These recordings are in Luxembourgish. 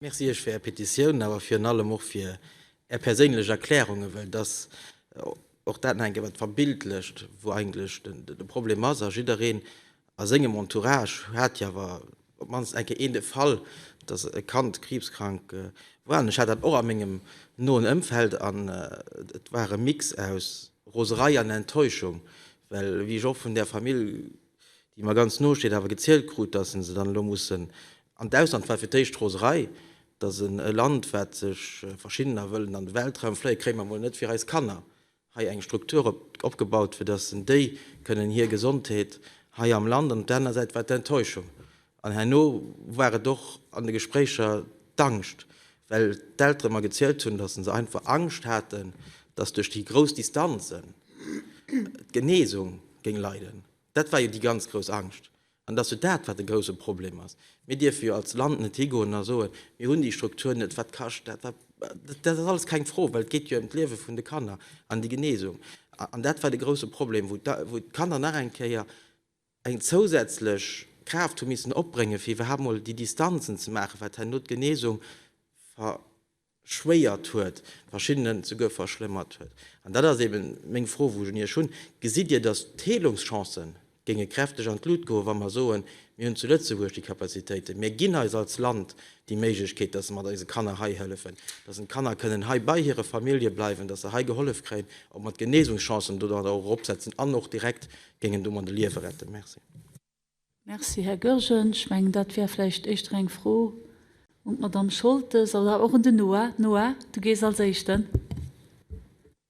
Merci Iech fir Är Petitioun, awer virun allem och fir Är perséinlech Erklärungen, well dass och dat nach eng Kéier wat verbildlecht, wou eigentlech de Problem ass. A jiddereen a sengem Entourage hat jo awer op d'mannst eng Kéier een de Fall, dass e Kand kriibskrank war. An ech hat dat och a mengem noen Ëmfeld. An et war e Mix aus Roserei an Enttäuschung, well wéi ech och vun där Famill déi mer ganz no steet, awer gezielt krut, datt se se dann elo mussen an d'Ausland, war fir d'éischt Roserei, datt e Land, wat sech verschiddener wëllen an de Weltraum fléien, kréie mer emol net fir eis Kanner hei eng Struktur opgebaut, fir datt se déi kënnen hir Gesondheet hei am Land, an op der anerer Säit war d'Enttäuschung, An herno war et och an de Gespréicher d'Angscht, well d'Eltere mer gezielt hunn, datt se einfach Angscht haten, datt duerch déi grouss Distanzen d'Genesung géing leiden. Dat war jo déi ganz grouss Angscht. An et ass jo dat, wat e grousse Problem ass. Mir dierfe jo als Land net higoen a soen, mir hunn déi Struktur net, wat kascht dat? Dat ass alles keng Fro, well et geet jo ëm d'Liewe vun de Kanner an déi Genesung. An dat war de grousse Problem, wou d'Kanner nach eng Kéier, eng zousätzlech Kraaft hu missen opbréngen, fir iwwerhaapt emol déi Distanzen ze maachen, wat herno d'Genesung verschwéiert huet, verschiddenen souguer verschlëmmert huet. An dat ass eeben meng Fro, wou ech un Iech hunn, Gesitt Dir, datt d'Heelungschancë géinge kräfteg an d'Lut goen, wa mer soen, mir hunn zu Lëtzebuerg déi Capacitéiten, mir ginn eis als Land déi Méiglechkeet, datt mer eise Kanner hei hëllefen, datt en d'Kanner kënnen hei bei hire Famillje bleiwen, datt se hei gehollef kréien, ob mer d'Genesungschancen do dann och eropsetzen an och direkt géingen domat e Liewe retten. Merci. Merci, Här Goergen. Ech mengen, dat wär vläicht éischter eng Fro un d'Madamm Scholtes oder och un den Noah. Noah, du gees als Éischten.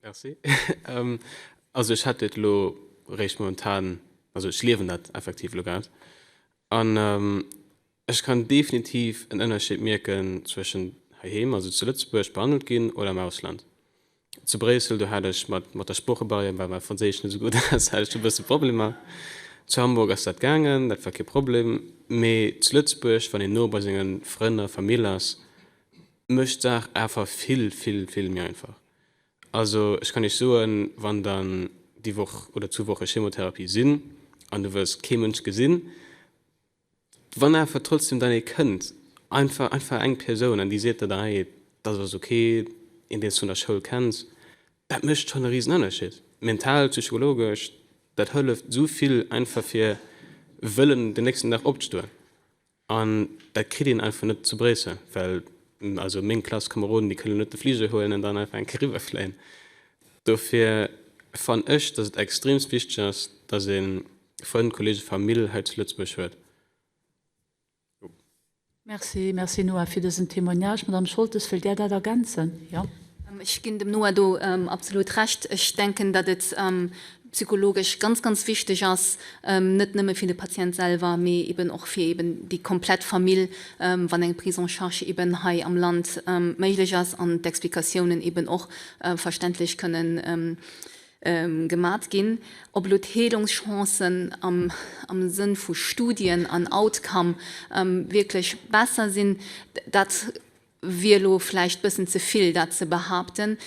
Merci. Also ech hätt dat elo eréischt momentan, also ech liewen dat effektiv elo grad. An Ech kann definitiv en Ënnerscheed mierken zwëschen heiheem, also zu Lëtzebuerg, behandelt ginn oder am Ausland. Zu Bréissel, do hat ech mat mat der Sproochebarrière, well mäi Franséisch net esou gutt ass, hat ech do e bësse Problemer. Zu Hamburg ass dat gaangen, dat war kee Problem. Mee zu Lëtzebuerg, wann een no bei senge Frënn a Famill ass, mécht d'Saach awer vill, vill, vill méi einfach. Also ech kann Iech soen, wann Der déi Woch oder zwou Woche Chemotherapie sinn an Du wëlls kee Mënsch gesinn, Wann awer trotzdem dann ee kënnt, einfach einfach eng Persoun, an déi seet der dann, hey, dat ass ok, een, deen s du vun der Schoul kenns, dat mécht schonn e Risenënnerschied. Mental, psychologesch, dat hëlleft esou vill, einfach fir wëllen den nächsten Dag opzestoen. An dat kritt een einfach net zu Bréissel, well also meng Klasskameroden, déi kënnen net de Fliger huelen an dann einfach eng Kéier eriwwerfléien. Dofir fannen ech, datt et extremst wichteg ass, datt een, Frënn, Kollegen, Famill hei zu Lëtzebuerg huet. Merci, merci Noah fir dësen Témoignage. Madame Scholtes, wëllt Där dat ergänzen? Jo. Ech ginn dem Noah do absolut Recht. Ech denken, datt et psychologesch ganz, ganz wichteg ass, net nëmme fir de Patient selwer, mee eben och fir eben déi komplett Famill, wann eng Prise en charge eben hei am Land méiglech ass an d'Explikatiounen eben och verständlech kënnen gemat ginn, op elo d'Heelungschancen am Sënn vu Studien an Outcome wierklech besser sinn, dat wier elo vläicht e bëssen ze vill, dat ze behaapten.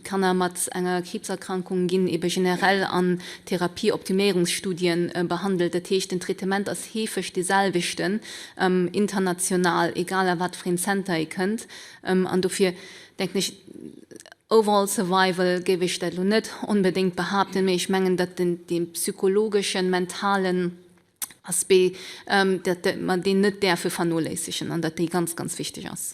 Kanner mat enger Kriibserkrankung ginn ebe generell an Therapieoptiméierungsstudie behandelt. Dat heescht, den Traitement ass heefeg dee selwechten international, egal a wat fir een Zenter ee kënnt. An dofir Denken ech, overall survival géif ech dat elo net onbedéngt behaapten, mee ech mengen, datt dee psychologeschen, mentalen Aspect, datt mer deen net däerfe vernoléissegen an datt dee ganz, ganz wichteg ass.